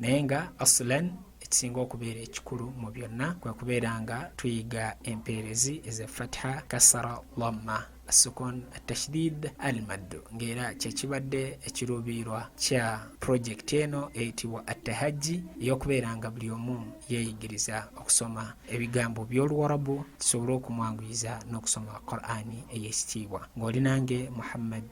naye nga asulan ekisinga okubeera ekikulu mu byonna kwe kubeera nga tuyiga empeerezi eze fatiha kasara lamma sukun atashdid al maddu ng'era kyekibadde ekiruubirirwa kya pulojekiti eno eyitibwa attahajji ey'okubeera nga buli omu yeeyigiriza okusoma ebigambo by'oluwarabu kisobole okumwanguyiza n'okusoma qur'ani ey'ekitiibwa ng'oli nange muhammad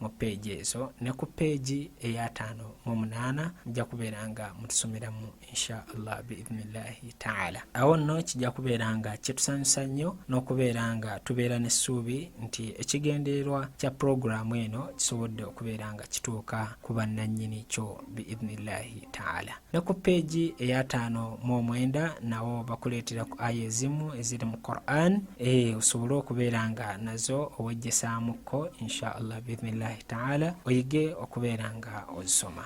mu peegi ezo ne ku peegi eyataano mu munaana mujja kubeera nga mutusomeramu insha allah biidhnillahi taala awo nno kijja kubeera nga kyetusanyusa nnyo n'okubeera nga tubeera n'essuubi nti ekigendererwa kya pulogulaamu eno kisobodde okubeera nga kituuka ku bannannyini kyo biidhnillahi taala ne ku peegi eyataano mu omwenda nawo bakuleetera ku aya ezimu eziri mu quran ee eh, osobole okubeera nga nazo owejjesaamukko insha allah biidhnillahi taala oyige okubeera nga ozisoma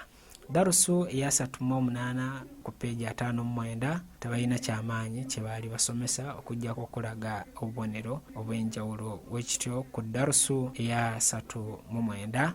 darusu eyasatu mu omunaana ku peegi ataano mu mwenda tebalina kyamaanyi kye baali basomesa okujjako okulaga obubonero obw'enjawulo wekityo ku darusu eyasatu mu mwenda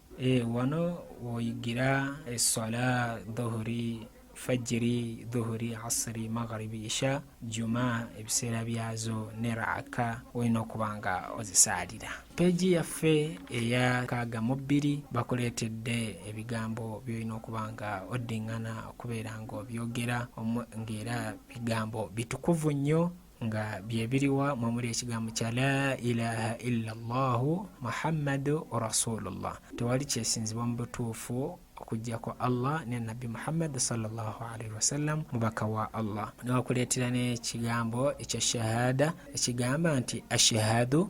Eh, wano woyigira eswala dhuhuri fajiri dhuhuri asiri magharibi isha juma ebiseera byazo ne raaka olina okuba nga ozisaalira peegi yaffe eya kaaga mu bbiri bakuleetedde ebigambo byolina okuba nga oddingana okubeera nga obyogera ng'era bigambo bitukuvu nnyo nga byebiriwa mwemuli ekigambo kya la ilaha illa llahu muhammadu rasulullah tewali kyesinzibwa mu butuufu okujjako allah ne nabbi muhammadi salllahalaihi wasallam mubaka wa allah newakuleetera n'ekigambo ekya shahada ekigamba nti ashhadu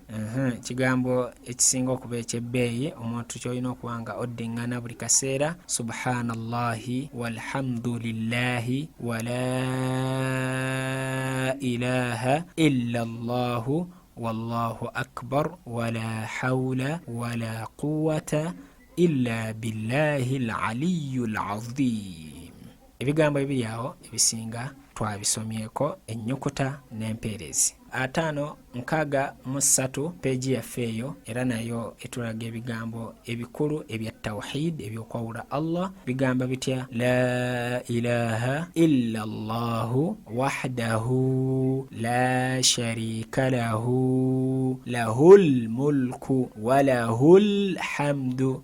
ekigambo ekisinga okuba ekyebbeeyi omuntu kyolina okuba nga oddiŋŋana buli kaseera subhanallahi walhamdulillahi wala ilaha illa llahu wallahu akbar wala haula wala quwata illa billahi laliyu lazim ebigambo ebiri awo ebisinga twabisomyeko ennyukuta n'empeerezi ataano nkaaga mu ssatu peegi yaffe eyo era nayo etulaga ebigambo ebikulu ebya tawhid ebyokwawula allah bigamba bitya la ilaha illa llahu wahdahu la sharika lahu lahu lmulku walahu lhamdu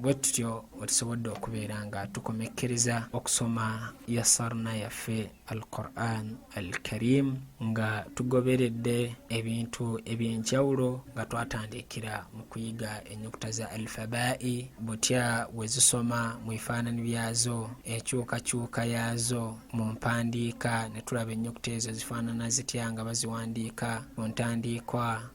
bwe tutyo bwe tusobodde okubeera nga tukomekkereza okusoma yasarna yaffe al quran al karim nga tugoberedde ebintu eby'enjawulo nga twatandikira mu kuyiga ennyukuta za alfabai butya bwe zisoma mu bifaanani byazo enkyukakyuka yaazo mu mpandiika ne tulaba ennyukuta ezo zifaanana zitya nga baziwandiika mu ntandiikwa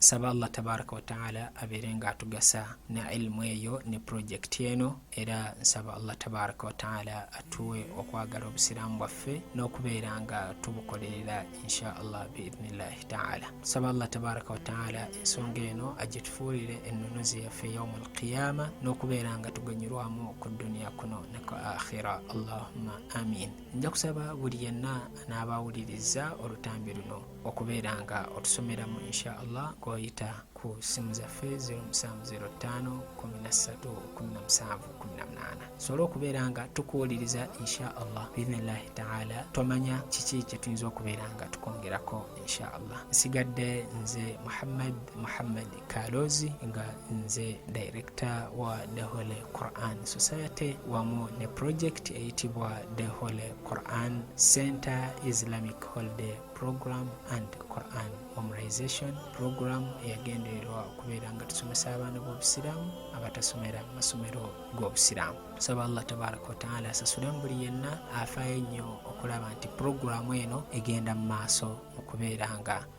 nsaba allah tabaraka wataala abeere nga atugasa na ilimu eyo ne purojekiti eno era nsaba allah tabaraka wataala atuwe okwagala obusiraamu bwaffe n'okubeera nga tubukolerera insha allah biidnillahi taala nsaba allah tabaraka wataala ensonga eno agitufuulire ennunuzi yaffe yaumu alqiyama n'okubeera nga tuganyirwamu ku dduniya kuno ne ku akhira allahumma amin nja kusaba buli yenna n'abaawuliriza olutambi luno okubeera nga otusomeramu insha allah gwoyita ku simu zaffe 07531717 sobola okubeera nga tukuwuliriza insha allah biidhnillahi taala tomanya kiki kyetuyinza okubeera nga tukwongerako insha allah nsigadde nze muhammad muhammad Kalozi nga nze director wa The Holy Quran Society wamu ne project eyitibwa The Holy Quran Center Islamic Holiday Program and Quran Memorization Program eyagendererwa okubeera nga tusomesa abaana b'Obusiraamu abatasomera mu masomero g'Obusiraamu. Tusaba Allah tabaraka wa taala asasule mu buli yenna afaayo ennyo okulaba nti pulogulaamu eno egenda mu maaso okubeera nga